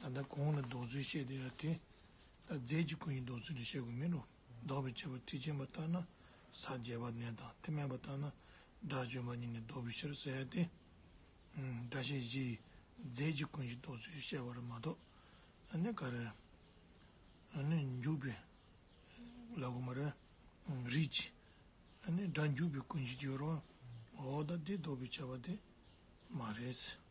ད་ལྟ་གོང་ལ་འདོགས་ཚུལ་བཤད་དེ་ཡང་དེ་ལྟར་རྫས་ཀྱི་སྐུ་ཡིན་འདོགས་ཚུལ་དུ་བཤད་དགོས་མིན་ནོ། ལྡོག་པའི་ཁྱད་པར་མཐུ་ཆེན་པ་ལྟར་ན་ས་བརྒྱད་པ་ནས་དང་མཐུ་དམན་པ་ལྟར་ན་སྒྲ་བྱོན་པ་གཉིས་ནི་ལྡོག་པའི་ཕྱིར་ཟེར་ཏེ། སྒྲ་བཤད་བཞི་ཡིས་རྫས་ཀྱི་ཀུན་གཞི་འདོགས་ཚུལ་བཤད་པར་མ་གཏོགས་ནི་ག་རེ། ནི་འཇུག་པའི་ལ་གོ་མ་རེ། རིགས་ཀྱི། ནི་སྒྲ་འཇུག་པའི་ཀུན་གཞི་གྱུར་རོ། འོ་ད་དེ་ལྡོག་པའི་ཁྱད་པར་དེ་མ་རེད།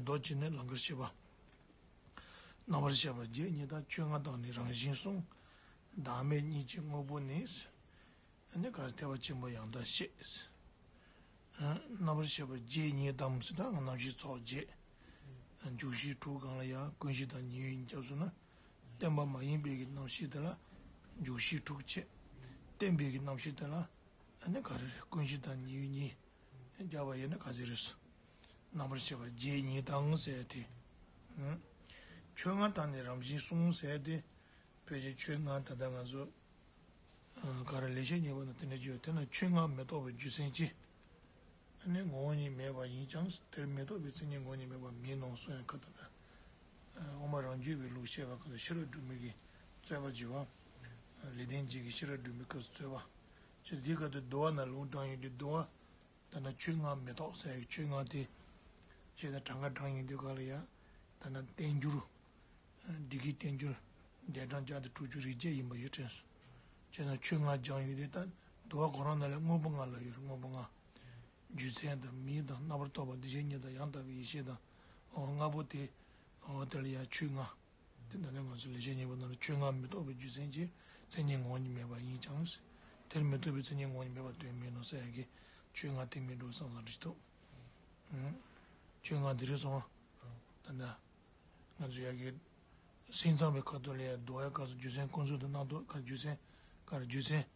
མདོ་སྤྱི་ནི་ལང་ཀར་ཤེས་པ། རྣ་བར་ཤེས་པ་བརྒྱད་གཉིས་དང་བཅོ་ལྔ་དག་ནི་རང་བཞིན་གསུང། བདག་མེད་གཉིས་ཀྱི་དངོས་པོ་ནི། ནི་གར་ཐལ་བ་ཆེན་པོ་ཡང་དག་ཤེས། རྣ་བར་ཤེས་པ་བརྒྱད་གཉིས་དམ་སྲི་དང་རྣམ་ཤེས་ཚོགས་བརྒྱད། འཇུག་བཞི་དྲུག་གང་ལ་ཡང་ཀུན་གཞི་དང་ཉེ་བའི་སྐྱབས་སུ་ན། བརྟན་པ་མ་ཡིན་པའི་གི་རྣམ་ཤེས་དེ་ལ། འཇུག་བཞི་དྲུག་བཅས། བརྟན་པའི་གི་རྣམ་ཤེས་དེ་ལ། ནི་གར། ཀུན་གཞི་དང་ཉེ་བའི་གཉིས། བརྒྱ་པ་ཡི་ནི་ག་ཟེ་རེ་སོ། རྣམ་པར་ཤེས་པ་བརྒྱད་ཉིད་དང་བསྲེ་སྟེ། ཆོས་ལྔ་དང་ནི་རང་བཞིན་གསུམ་བསྲེ་སྟེ། དཔེ་ཆའི་ཆོས་ལྔ་ད་ལྟ་ང་ཚོ་ག་རེ་ལས་ཤེས་ཉེ་བར་ན་དེ་འདྲ་ཅི་ཡོད་དེ་ན་ཆོས་ལྔ་མི་རྟོག་པའི་རྒྱུ་མཚན་ཅི། ཨ་ནི་ངོ་བོ་ཉིད་མེད་པ་ཡིན་ཀྱང་དེར་མི་རྟོག་པའི་མཚན་ཉིད་ངོ་བོ་ཉིད་མེད་པ་མིན་ནོ་གསུངས་ཡང་ཁ་ད་ད་དབུ་མ་རང་རྒྱུད་པའི་ལུགས་བཤད་པ་ཁ་ཏུ་ཤེས་རབ་སྒྲུབ་མིན་གྱི་རྩོད་པ་བགྱི་བ། ལས་ལྡན་འབྱེད་ཀྱི་ཤེས་རབ་སྒྲུབ་མིན་ཁ་ཏུ་རྩོད་པ་བགྱི་འདི་ཁ་ཏུ་བསྡུ་བ་ན་ལུང་དྲང་ཡོད་དུ་འདུ་བ། ད་ནི་ཆོས་ལྔ་མི་རྟོག་སའི་ཆོས་ལྔ་སྟེ། ཞེས་དང་གྲངས་ཀ་གྲངས་ཡིན་དུས་ག་ལ་ཡ། ད་ནི་བསྟན་འགྱུར། སྡེ་དགེའི་བསྟན་འགྱུར། འདས་གྲངས་བརྒྱ་དང་དྲུག་ཅུ་རེ་བརྒྱད་ཡིན་པ་ཡོད་དྲན་སོ། ཅེས་དང་ཆོས་ལྔ་སྦྱང་ཡུལ་ཏེ། དུ་བ་གོ་རང་རྣམས་ལས་དངོས་པོ་ལྔ་ལ་ཡོད་དངོས་པོ་ལྔ། རྒྱུའི་མཚན་དང་མིང་དང་རྣམ་པར་རྟོག་པ་འདུ་བྱེད་གཉིས་དང་ཡང་དག་པའི་ཡེ་ཤེས་དང། ལྔ་པོ་སྟེ། དེ་ལ་ཡང་ཆོས་ལྔ། དེ་འདི་ནི་ང་ཚོའི་ལེགས་བཤད་གཉིས་པོ་རྣམས་ལས་ཆོས་ལྔ་མི་རྟོག་པའི་རྒྱུ་མཚན་གྱིས་མཚན་ཉིད་ངོ་བོ་ཉིད་མེད་པ་ཡིན་ཀྱང། དེར་མི་ལྟོས་པའི་མཚན་ཉིད་ངོ་བོ་ཉིད་མེད་པ་དོན་མིན་ནོ་སེ་ཨེ་ཀྱེ། ཆོས་ལྔ་དེ་མིན་འགྲོ་བ་སངས་སར་འདྲི་ཐུབ། ཆོས་ལྔ་འདི་རུ་སོང། ད་ནི། ང་ཚོས་ཡ་གི། སེམས་ཚངས་པའི་ཁ་དོག་ལས་རྡོ་ཡ་གར་སོགས་རྒྱུ་མཚན་ཀུན་རྫོབ་ཏུ་སྣང་རྟོག་གར་རྒྱུ་མཚན། གར་རྒྱུ་མཚན།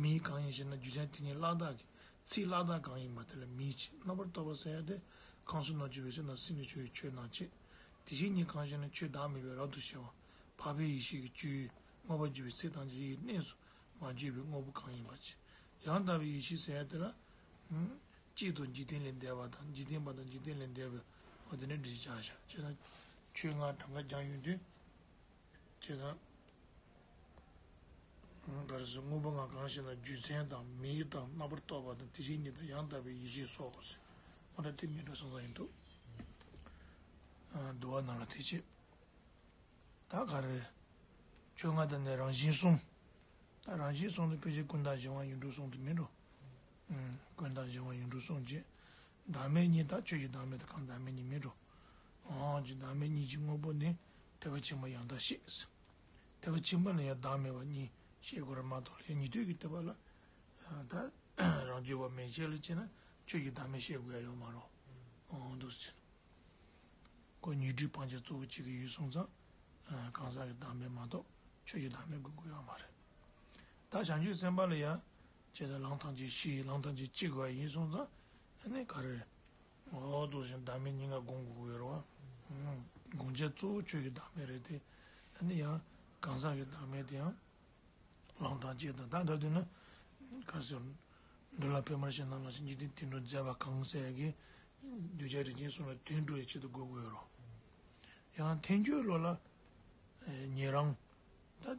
མིའི་གང་ཡིན་ཞེ་ན་རྒྱུ་ཆ་དེ་ཉིད་བླ་དྭགས་ཀྱི་ཚིག་བླ་དྭགས་གང་ཡིན་པ་དེ་ལ་མིའི་ཆེས་རྣམ་པར་རྟོག་པ་བསལ་ཡ་དེ་གང་སུ་ན་ཆོས་པའི་ཆ་ན་སྲིད་ནས་ཆོས་ཡི་ཆོས་ནང་བྱེད། དེ་བཞིན་ཉིད་གང་ཞེ་ན་ཆོས་བདག་མེད་པའི་རབ་ཏུ་ཕྱེ་བ་འཕགས་པའི་ཡེ་ཤེས་ཀྱི་བཅུའི་དངོས་པ་བརྗོད་པའི་ཚེ་དང་རྗེས་ཡི་གནས་སུ་མ་བརྗོད་པའི་དངོས་པོ་གང་ཡིན་པ། ཡང་དག་པའི་ཡེ་ཤེས་བསལ་ཡ་དེ་ལ། གཅིག་ཏུ་འཇིག་རྟེན་ལས་འདས་པ་དང་འཇིག་རྟེན་པ་དང་འཇིག་རྟེན་ལས་འདས་པའི་བ་དེ་ནི་འདྲིས་བྱ་བཞག་ཅེ་ན། ཆོས་ལྔའི་གྲངས་ཀ་སྦྱང་ཡུལ་དུས། ཅེས་དང། ག་རེ་ཟེར་དངོས་པོ་འང་གང་ཞིག་ན་རྒྱུ་མཚན་དང་མིག་དང་རྣ་བར་རྟོག་པ་དང་དེ་བཞིན་ཉིད་དང་ཡང་དག་པའི་ཡེ་ཤེས་སོགས་ཀྱི་ཟེར། ཁོ་ན་དེ་མི་འགྲོ་སང་སང་ཡིན་འདུག། བསྡུ་བ་རྣམས་ལ་དེ་ཆེད་ད་ག་རེ། ཆོས་ལྔ་དང་ནི་རང་བཞིན་གསུམ། ད་རང་བཞིན་གསུམ་དུ་ཕལ་ཆེར་ཀུན་བརྟགས་འབྱུང་བ་ཡིན་འགྲོ་གསུང་དུ་མི་འགྲོ། ཀུན་བརྟགས་འབྱུང་བ་ཡུན་དྲུག་གསུངས། ཅེས་བདག་མེད་གཉིས་བརྟགས་ཆོས་ཀྱི་བདག་མེད་དུ་གང་བདག་མེད་གཉིས་མེད་འགྲོ། ཅེས་བདག་མེད་གཉིས་ཀྱི་དངོས་པོ་ནི་དེ་བ་ཕྱི་མ་ཡང་དག་ཤེས། དེ་བ་ཕྱི་མ་ལ་ཡང་བདག་མེད་བ་གཉིས་ཤེས་དགོས་ར་མ་གཏོགས་ལྷའི་ཉིད་དུས་ཀྱི་ལྟེ་བ་ལ་ད་རང་རྒྱུད་བ་མེད་ཅེས་ལ་དཔྱད་ན་ཆོས་ཀྱི་བདག་མེད་ཤེས་དགོས་ཡ་ཡོད་མ་རུང། འདུག་ཟེར། སྒོ་ཉི་སྦྲུལ་སྤང་བྱ་གཙོ་བོ་གཅིག་གི་ཡུལ་གསུངས་ཙང། གང་ཟག་གི་བདག་མེད་མ་གཏོགས་ཆོས་ཀྱི་བདག་མེད་དགོས་དགོས་ཡོད་མ་རེད། བདག་བྱང་ཆུབ་སེམས་དཔའ་ལ་ཡང་བྱས་ཙང་ལང་ཐང་ཅིག་བཤིག་ལང་ཐང་ཅིག་བཅིག་བ་ཡིན་སོང་ཙང་ནི་ག་རེ། འོ་ལྟོ་ཞིག་བདག་མེད་སྙིང་ག་དགོངས་དགོས་ཀྱི་ཡོད་རོ། དགོངས་འཆལ་གཙོ་བོ་ཁྱོད་ཀྱི་བདག་མེད་རེད་དེ། ད་ནི་ཡང་གང་ཟག་གི་བདག་མེད་དེ་ཡང། ལང་ཐང་ཅིག་དང་ད་ལྟ་དུས་ན། ག་རེ་ཟེར། འདོད་ལ་ཕན་མར་ཤེས་ན་ལ་ཞིག་འཇིག་རྟེན་དུད་འགྲོ་མཛད་པ་གང་ཟེར་ཡ་གི། གདུལ་བྱ་རིགས་ཅན་སོང་བའི་དུད་འགྲོ་ཡི་ཆེད་དུ་དགོས་ཀྱི་ཡོད་རོ། ཡང་ཐེངས་ཁྱོད་བློ་ལ། ཉེ་རང། ད།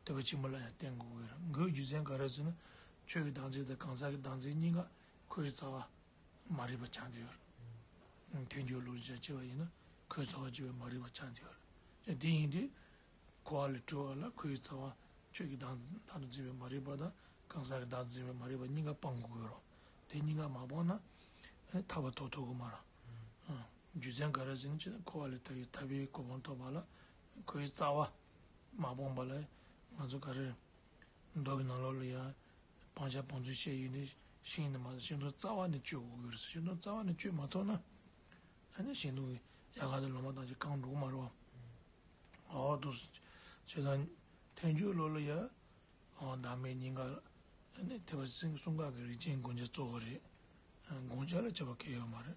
བསྟོད་པ་ཆེན་པོ་ལ་ཡང་བརྟེན་དགོས་གི་རང་འགུལ་རྒྱུ་མཚན་ག་རེ་ཟེར་ན་ཆོས་ཀྱི་དྭངས་རྩེ་དང་གང་ཟག་གི་དྭངས་རྩེ་གཉིས་ཀ་ཁོའི་རྩ་བ་མ་རིག་པ་ཆགས་འདི་ཡོད་རེད། ཐལ་འགྱུར་ལུགས་སུ་བྱ་བྱེད་པ་ཡིན་ན་ཁོའི་རྩ་བ་བྱེད་པའི་མ་རིག་པ་ཆགས་འདི་ཡོད་རེད། དེ་ཡིན་དུས་ཁོ་ཨ་ལས་གྲོལ་བ་ལ་ཁོའི་རྩ་བ་ཆོས་ཀྱི་དྭངས་རྩེ་དང་དུ་འཛིན་པའི་མ་རིག་པ་དང་གང་ཟག་གི་དྭངས་དུ་འཛིན་པའི་མ་རིག་པ་གཉིས་ཀ་སྤང་དགོས་གི་རོ། དེ་གཉིས་ཀ་མ་སྤངས་ན་ཐར་བ་ཐོབ་ཐུབ་གི་མ་རང། རྒྱུ་མཚན་ག་རེ་ཟེར་ན་ཁོ་ཨ་ལས་ཐར་བའི་ཐར་པའི་གོ་འཕང་ཐོབ་པ་ལ་ཁོའི་རྩ་བ་མ་སྤངས་པ་ལ་ང་ཚོ་ག་རེ། མདོག་གི་ནང་ལོགས་ལ་ཡང་སྤང་བྱ་སྤང་ཚུལ་བཤད་ཡོད་ནི་ཤིང་ནི་མ་ཤིང་སྡོང་རྩ་བ་ནས་གཅོད་དགོས་ཀྱི་རེད་ཤིང་སྡོང་རྩ་བ་ནས་གཅོད་མ་ཐུབ་ན། ད་ནི་ཤིང་སྡོང་གི་ཡལ་ག་དེ་ལོ་མ་ཐག་ཅིག་བཀང་འགྲོ་གི་མ་རེད་བ། འོ་དུ་བྱས་ཙང་ཐལ་འགྱུར་ལོགས་ལ་ཡང་བདག་མེད་སྙིང་ག་ནི་ཐེབས་པ་སྲིང་སྲུང་ཁག་གི་རིགས་ཅན་དགོན་ཆ་གཙོ་བོ་རེད་དགོན་ཆ་ལ་བྱ་བ་གལ་ཡོད་མ་རེད།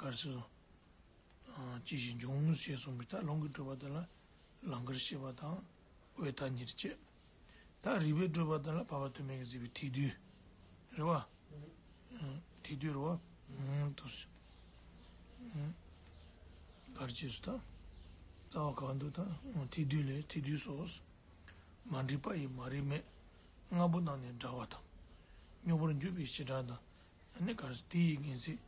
དཀར་སེར། ཅི་བཞིན་འབྱུང། ཞེས་གསུངས་པའི་རྟགས་ལྷུན་གྱིས་གྲུབ་པ་དེ་ལ་ལང་ཀར་ཤེས་པ་དང་འོད་མཐའ་གཉིས་ཀྱི་སྐྱེས། རྟགས་རིག་པའི་སྤྲོས་པ་དེ་ལ་བར་བར་དུ་མེད་ཀྱི་གཟིགས་པའི་ཐིག་རྡུལ། རེ་བ། ཐིག་རྡུལ་རེ་བ། དུ་ཞིག། གར་སྐྱེས་སུ་དང། རྩ་བ་གང་དུ་དང་ཐིག་རྡུལ་ལས་ཐིག་རྡུལ་སོགས། མ་འདྲིས་པ་ཡི་མ་རིག་མེད། ལྔ་པོ་རྣམས་ནི་འདྲ་བ་དང། སྨྱོ་བར་འགྱུར་བའི་ཞེ་སྡང་དང་ཡང་ནི་གར་སྟེ་ཡིད་ངེས་ཚིག་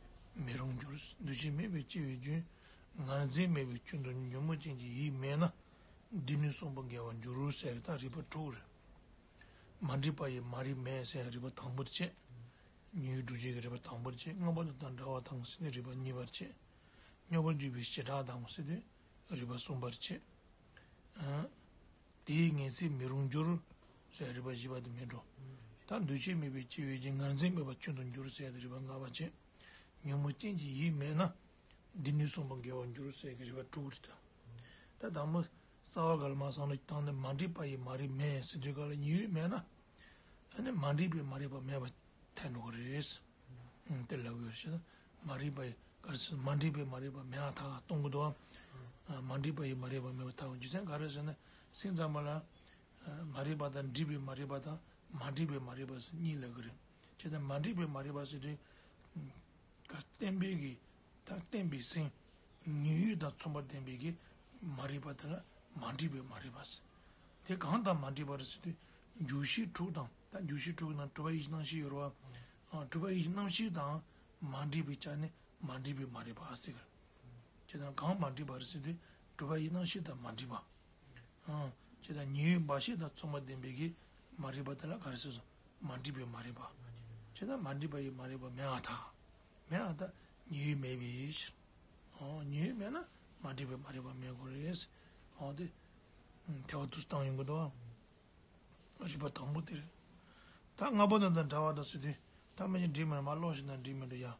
མེད་རུང་འགྱུར། འདུ་བྱེད་མེད་པའི་སྐྱེ་བའི་རྒྱུན། ངར་འཛིན་མེད་པའི་སྐྱོན་དུ་ཉོན་མོངས་ཅན་གྱི་ཡིད་མེད་ན། འདི་ནི་གསུམ་པོ་འགལ་བར་འགྱུར་ཟེར་དང་རིགས་པ་དྲུག། མ་འདྲིས་པ་ཡི་མ་རིག་མེད་ཟེར་རིགས་པ་དང་པོར་བཅད། ཉོན་ཡིད་འགྲུབ་བྱེད་ཀྱི་རིགས་པ་དང་པོར་བཅད་དངོས་པོ་དང་འདྲ་བ་དང་སྲིད་པའི་རིགས་པ་གཉིས་པར་བཅད། དངོས་པོར་འགྱུར་བའི་བྱེ་བྲག་དང་སྲིད་པའི་རིགས་པ་གསུམ་པར་བཅད། དེ་ཡི་ངེས་ཚིག་མི་རུང་འགྱུར། ཞེས་རིགས་པ་བཞི་པ་དེ་མེད་འགྲོ། ད་འདུས་བྱས་དམིགས་པའི་སྤྱི་བོའི་སྦྱིན་ངར་འཛིན་མེད་པ་སྐྱོན་དུ་འགྱུར་ཟེར་ཏེ་རིགས་པ་ལྔ་པ་བྱེད། ཉོན་མོངས་ཅན་གྱི་ཡིད་མེད་ན། འདི་ནི་གསུངས་པ་འགལ་བར་འགྱུར་ཟེར་གྱི་རིགས་པ་དྲུག་དང། ད་དང་པོ། རྩ་བ་ག་ལ་མ་ཚང་ན་བཏང་ནས་མ་འདྲིས་པ་ཡི་མ་རིག་མེད་ཟེར་དུས་ག་ལ་ཉིད་ཡོད་མེད་ན། ད་ནི་མ་འདྲིས་པའི་མ་རིག་པ་མེད་པར་ཐལ་འགྲོ་གི་རེད། དེ་ལ་འོས་ཤིང་མ་རིག་པ་ཡི་གར་སེལ་མ་འདྲིས་པའི་མ་རིག་པ་མེད་ཨ་ཐག་སྟོང་གི་དུའམ། མ་འདྲིས་པ་ཡི་མ་རིག་པ་མེད་པ་ཐག་རྒྱུ་མཚན་ག་རེ་ཟེར་ན་སེམས་ཙམ་པ་ལ། མ་རིག་པ་དང་འདྲིས་པའི་མ་རིག་པ་དང་མ་འདྲིས་པའི་མ་རིག་པ་གཉིས་ལ་གི་རེད། ཅེས་དང་མ་འདྲིས་པའི་མ་རིག་པ་ཟེར་དུས། བརྟན་པའི་གི་དང་བརྟན་པའི་སེམས། ཉོན་ཡོད་དང་མཚུངས་པར་ལྡན་པའི་གི་མ་རིག་པ་དེ་ལ་མ་འདྲིས་པའི་མ་རིག་པ་ཟེར། དེ་གང་དང་མ་འདྲིས་པ་རེད་ཟེར་དུས། འགྱུ་ཤེས་དྲུག་དང། ད་འགྱུར་ཞི་ཁྲོ་གི་ནང་གྲུབ་པ་ཡེ་ཤེས་སྣང་བཞི་ཡོད་རོ། གྲུབ་པ་ཡེ་ཤེས་སྣང་བཞི་དང་མ་འདྲེས་པའི་ཆ་ནི་མ་འདྲེས་པའི་མ་རེད་པ་ཟེར། ཇི་ལྟར་གང་མ་འདྲེས་པ་རེད་ཟེར་དུས་གྲུབ་པ་ཡེ་སྣང་བཞི་དང་མ་འདྲེས་པ། ཇི་ལྟར་ཉེ་བའི་འབའ་ཤེས་དང་མཚུངས་པ་ལྡན་པའི་གིས་མ་རེད་པ་དེ་ལ་ག་རེ་ཟེར་སོ་མ་འདྲེས་པའི་མ་རེད་པ། ཇི་ལྟར་མ་འདྲེས་པ་ཡི་མ་རེད་པ་མེད་ཨ་ཐ། མེད་ཨ་ཐ་ཉེ་བའི་མེད་པའི་ཕྱིར། ཉེ་བའི་མེད་ན་མ་འདྲེས་པའི་མ་རེད་པ་མེད་དགོས་རེད། དེ་བ་དུ་སྟངས་ཡོང་གི་འདུག་ཨ། རིག་པ་དང་པོ་དེར། བདག་ལྔ་པོ་དང་དང་འདྲ་བ་དང་སྲིད་དོན་བདག་མེད་ཅིང་འདྲིས་མེད་མ་ཀློག་བཞིན་དང་འདྲིས་མེད་དུ་ཡང།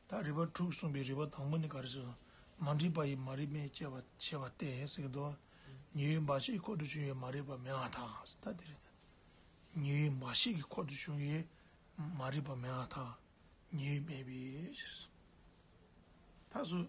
བདག་རིག་པ་དྲུག་གསུངས་པའི་རིག་པ་དང་པོ་ནི་ག་རེ་སོ། མ་འདྲིས་པ་ཡི་མ་རིག་མེད་ཅེས་པ་བཤད་པ་སྟེ་ཟེར་གྱི་འདུག་ཉེ་བའི་འབའ་ཞིག་གི་འཁོར་དུ་བྱུང་བའི་མ་རིག་པ་མེད་ང་དང་ད་དེ་རེད། ཉེ་བའི་འབའ་ཞིག་གི་འཁོར་དུ་བྱུང་བའི་མ་རིག་པ་མེད་ང་དང་ཉེ་བའི་མེད་པའི། ཞེས་སོ། ད་གཟོད།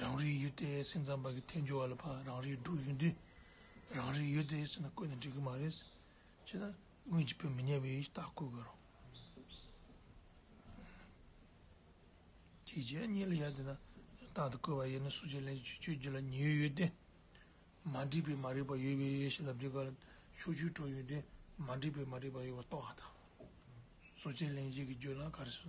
རང་རིག་ཡུལ་དེ་སེམས་ཙམ་པ་གི་ཐལ་འགྱུར་བ་ལ་ཕ་རང་རིག་འབྲུག་ཡུལ་འདི་རང་རིག་ཡུལ་དེ་ཟེར་ན་བཀོད་ནས་འགྲིག་གི་མ་རེད། ཅེས་ན་སྔོན་གྱི་བོད་མི་ཉེས་པའི་རྟགས་བཀོད་དགོས་རོགས། ཅེས་བྱས་གཉིས་ལ་ཡ་དེ་ན་རྟགས་དེ་བཀོད་པ་ཡིན་ན་སུ་ཅིག་ལན་ཅིག་ཆོས་བརྒྱུད་ལ་ཉེའུ་ཡོད་དེ། མ་འགྲིག་པའི་མ་རིག་པ་ཡོད་པའི་ཡེ་ཤེས་ལ་འདི་གར་ཕྱོགས་བཅུའི་སྤྲོ་ཡུལ་འདི་མ་འགྲིག་པའི་མ་རིག་པ་ཡོད་པ་རྟོགས་ཨ་ཐང། སུ་ཅིག་ལན་ཅིག་གིས་བརྗོད་ལ་ག་རེ་སུ་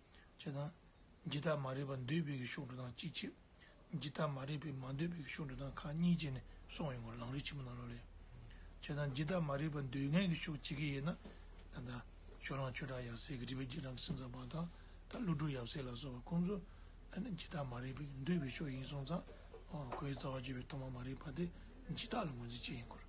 ཅེས་དང། ཇི་ལྟར་མ་རིག་པ་འདོད་པའི་གཞུང་དྲུག་དང་གཅིག་ཕྱིར། ཇི་ལྟར་མ་རིག་པས་མ་འདོད་པའི་གཞུང་དྲུག་དང་ཁ་གཉིས་བཅད་ནས་སོང་བའི་ངོར་ལང་རིག་ཆེན་པོ་རྣམས་རོ་ལས། ཅེས་དང། ཇི་ལྟར་མ་རིག་པ་འདོད་ངེས་ཀྱི་ཤུགས་ཇི་སྐད་ཡོད་ན། ད་ལྟ། ཞོ་རང་ཆོས་གྲགས་ཡབ་སྲས་ཀྱི་བྲིས་པའི་རྗེས་འབྲང་གི་སེམས་ཙམ་པ་དང། ད་ཀླུ་སྒྲུབ་ཡབ་སྲས་ལ་སོགས་པ་ཀུན་ཏུ། ཇི་ལྟར་མ་རིག་པས་འདོད་པའི་ཕྱོགས་ཡིན་གསུངས་ཙང། ཁོའི་རྩ་བ་གཅོད་པའི་ཐོག་མ་མ་རིག་པ་དེ་ཇི་ལྟར་ལ་ངོས་འཛིན་བྱེད་ཡིན་སྐོར།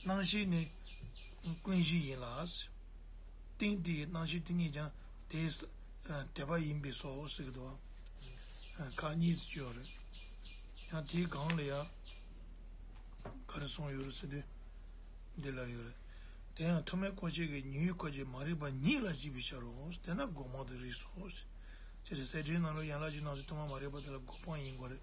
སྣང་བཞི་ནི་ཀུན་གཞི་ཡིན་ལ། ཏིང་དེའི་སྣང་བཞི་དེ་ཉིད་ཀྱང་དེས་དེ་པ་ཡིན་པས་སོ་ཟེར་གྱི་འདུག་ཨ། ཁག་གཉིས་སུ་བཅོས་པ་རེད། ཡང་དེའི་སྒང་ལ་ཡང་ག་རེ་གསུངས་ཡོད་རེད་ཟེར་དུས། འདི་ལ་ཡོད་རེད། དེ་ཡང་ཐོག་མའི་བཀོད་བྱེད་ཀྱི་ཉི་འོད་སྐོར་གྱི་མ་རིག་པ་ཉིད་ལ་གཞིག་པའི་ཕྱིར་རོ། དེས་ན་སྒོ་མང་དུ་རིགས་སོ། ཅེས་ཟེར། གསལ་བྱེད་རྣམས་ལ་ཡན་ལག་བཞི་སྣང་སྲིད་ཐོག་མ་མ་རིག་པ་དེ་ལ་སྒོ་སྤང་ཡིན་དགོས་རེད།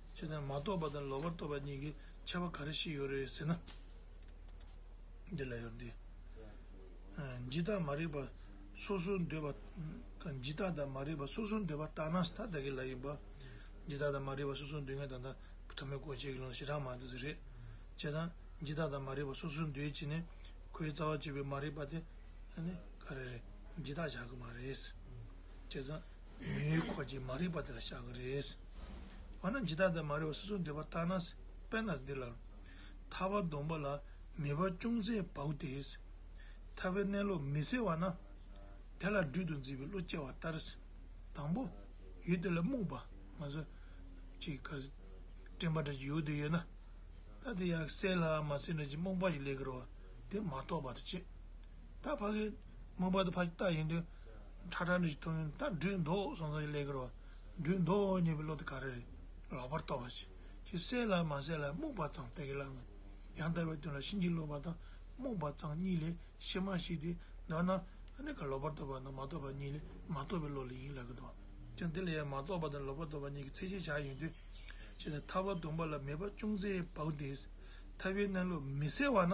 ཆེ་དང་མ་རྟོགས་པ་དང་ལོག་པར་རྟོགས་པ་གཉིས་ཀྱི་ཁྱད་པ་ག་རེ་ཞིག་ཡོད་རེད་ཟེར་ན། འདི་ལ་ཡོད་དེ། ཇི་ལྟར་མ་རིག་པ་སོ་སོར་འདོད་པ། ཇི་ལྟར་དང་མ་རིག་པ་སོ་སོར་འདོད་པ་ལྟར་ན་ད་ལྟ་གི་ལ་ཡིན་པ། ཇི་ལྟར་དང་མ་རིག་པ་སོ་སོར་འདོད་མཁན་ད་ལྟ་ཐོག་མའི་གོ་བྱེད་ཀྱི་ལོངས་ཤེས་རང་མ་དེ་རེད། ཅེས་དང། ཇི་ལྟར་དང་མ་རིག་པ་སོ་སོར་འདོད་ཅེས་ནི། ཁོའི་རྩ་བ་གཅིག་པའི་མ་རིག་པ་དེ། ག་རེ་རེད། འདི་དག་བྱ་དགོས་མ་རེད། ཅེས་དང། མི་ཡུལ་འཁོར་གྱི་མ་རིག་པ་དེ་ལ་བཞག་གི་རེད། འོ་ན་ཇི་ལྟར་དེ་མ་རིག་པ་སོ་སོར་འདུས་པ་བརྟགས་ན། དཔེར་ན་འདི་ལྟར། ཐར་བ་འདོམས་པ་ལ་ནུས་པ་ཅུང་ཟད་བག་སྟེ། ཐར་བའི་གནས་ལུགས་མི་གསལ་བ་ན། དེ་ལ་སྦྲུལ་དུ་འཛིན་པའི་བློ་སྐྱེ་བ་ལྟར། དང་པོ། ཡུལ་དེ་ལ་རྨུགས་པ། མ་བཟོད། ཅིག། སྤྲིན་པ་འདྲ་ཅིག་ཡུལ་དུ་ཡོད་ན། ད་དེ་ཡང་གསལ་ལ་མ་གསལ་འདྲ་ཅིག་རྨུགས་པ་ཞིག་ལས་ཀྱི་རོ། དེ་མ་རྟོགས་པར་བྱེད། ད་ཕ་གིས་རྨུགས་པ་དེ་ཕ་གི་རྟགས་ཡིན་དུས། ཁྲ་ཁྲ་འདྲི་དོན་ད་སྦྲུལ་མདོག་སོང་ཚོད་ཀྱི་ལས་ཀྱི་རོ། སྦྲུལ་མདོག་རྙེད་པའི་བློ་དེ་ག་རེ་རེད། ལག་པར་གཏོར་བ་ཅི་ཞིག་གསལ་ལ་མ་གསལ་ལ་རྨུགས་པ་ཙང་སྟེ་གི་ལ་ངོ། ཡང་དག་པའི་དོན་ལ་ཕྱིན་ཅི་ལོག་པ་དང་རྨུགས་པ་ཙང་གཉིས་ལས་ཕྱི་མ་ཞིག་དེ་འདོད་ན། ནི་ག་ལོག་པར་གཏོར་བ་དང་མ་གཏོར་བ་གཉིས་ལས་མ་གཏོར་བའི་བློ་ལས་ཡིན་ལགས་ཀྱི་དོ། ཀྱང་དེ་ལ་ཡང་མ་གཏོར་བ་དང་ལོག་པར་གཏོར་བ་གཉིས་ཀྱི་ཚད་ཤེས་བྱ་ཡིན་དུས། ཅི་སྟེ་ཐར་བ་དུམ་པ་ལ་མེད་པ་ཅུང་ཟད་བག་དེས་ཐར་བའི་གནས་ལུགས་མི་གསལ་བ་ན།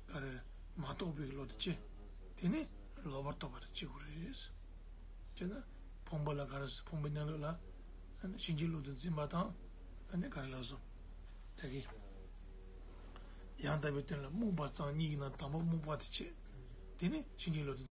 ལ་རེར་མ་གཏོགས་པའི་བློ་དེ་སྐྱེ། དེ་ནི་ལོག་པར་རྟོག་པ་དང་གཅིག་པུ་རེད། སྤྱིར་ན་བུང་བ་ལ་ག་རེ་བུང་བའི་གནས་ལུགས་ལ། བྱིན་གྱིས་བརླུབས་ཏེ་འཛིན་པ་དང་ནི་ག་རེ་ལགས་སོ། དེ་གའི་ཡང་དག་པའི་དོན་ལ་རྨུགས་པ་གཙང་སྙིགས་ན་དང་པོ་རྨུགས་པ་དེ་སྐྱེ། དེ་ནི་བྱིན་གྱིས་བརླུབས་ཏེ།